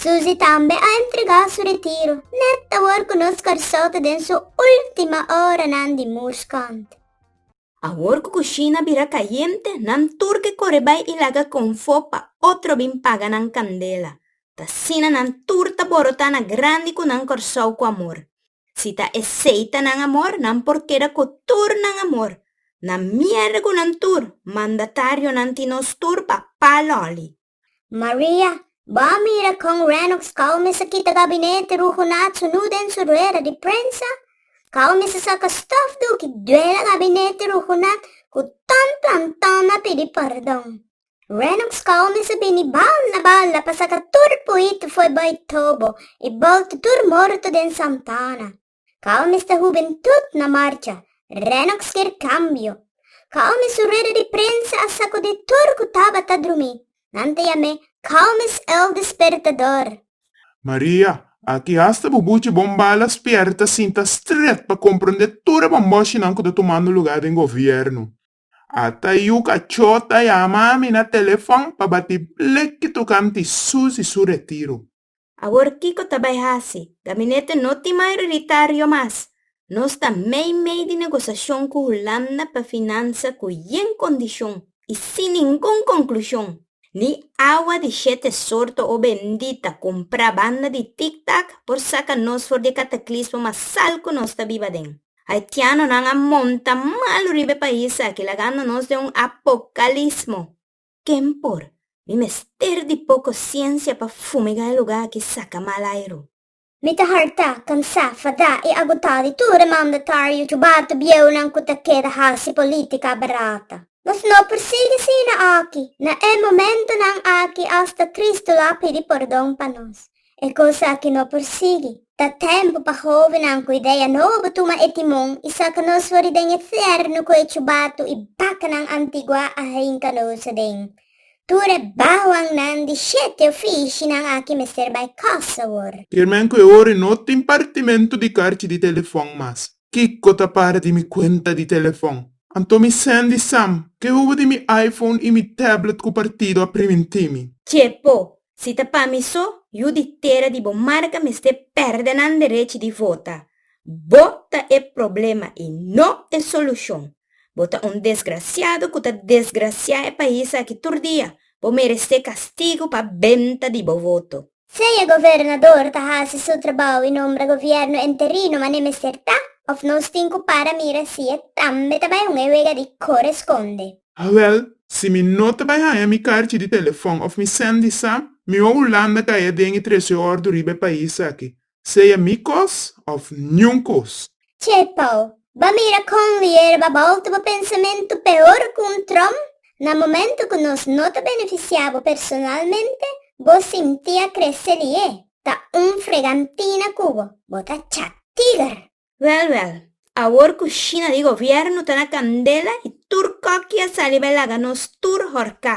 Suzy tambe a entregá su retiro nèt awor ku nos Kòrsou ta den su última oranan di mushkant. Awor ku kushina bira kayente, nan tur ke kore bai i laga konfó pa otro bin paga nan kandela. Ta asina nan tur ta borotá na grandi ku nan Kòrsou ku amor. Si ta esei ta nan amor, nan por keda ku tur nan amor. Na miérda ku nan tur, mandatarionan tin nos tur papá lòli. Maria, Bo a mira con Renox cao mester kita gabinete rugunat su nu den su rueda di prensa? Cao mester saca stof do ki duela gabinete rugunat cu tan planton na pidi pardon? Renox cao mester bini balda balda pa saca tur puito foe bay tobo y bolto tur morto den Santana? Kau mester hubentut na marcha, Renox kier kambio. Kau mes un rueda di prensa a sakudí tur ku tabata drumí, nan ta yam'é Kau mes el despertador. Maria, Aki hasta bu buchi Bombala spierta sinta stret pa komprondé tur e bomboshinan ku ta tumando lugá den govièrnu. Ata yu kachó ta yama mi na telefòn pa batí bleki tokante Susi su retiro. Awor kiko ta bai hasi? Gabinete no tin mayoritario mas. Nos ta mei mei di negosashon ku Hulanda pa finansa ku yen kondishon i sin ningun konklushon. Ni awa di shete sorto o bendita kumprá banda di tiktak por saka nos for di e kataklismo mas sal ku nos ta biba den. Haitianonan a monta malu riba e pais aki lagando nos den un apokalismo. Ken por? Mi mester di poko siensia pa fumiga e lugá aki saka mal airu. Mi ta hartá, kansá, fadá i agotá di tur e mandatario jubatu bieunan ku ta keda hasi polítika barata. Nos no por sigui asina aki. Na e momentunan aki asta Kristu lo a pidi pordon pa nos. E cos aki no por sigui. Ta tempo pa hovenan cu idea nobo tuma e timon y saca nos fori den e fierno cu e chubatu y bacanan antigua a hinca nos aden. Tur e bahuannan di shete oficinan aki mester bay cos awor. Firmen cu e ora y no tin partimento di carchi di telefon mas. Kiko ta para di mi kuenta di telefòn? Anto mi sendi Sam, ke hubo di mi iPhone i mi tablet ku partido a primintí mi? Chepo, Si ta pa mi so, yu di tera di bo marka mester pèrdè nan derechi di vota. Bo ta e problema i no e solushon. Bo ta un desgrasiado ku ta desgrasiá e pais aki tur dia. Bo merest'é kastigu pa benta di bo voto. Sea gobernador ta hasi su trabou y nombra gobierno enterino mane mester ta, of nos tin cu para mira si e tambe ta bay hung e wega di coresponde. Awel, si mi no ta bay haya mi carchi di telefon of mi sendi sa, mi wou Hulanda caya den y trece oor duriba e pais aki. sea mi kos òf niun kos. Tjee Paul, ba mira kon Lier ba bòlta bo pensamentu peor ku un trom. Na momentu ku nos no ta benefisiá bo personalmente, bo sinti a krese Lier ta un fregantina ku bo, bo ta chat. Tiger, Wèl wèl, awor ku Shina di gobièrnu ta na kandela i tur kòki a sali bai laga nos tur horká.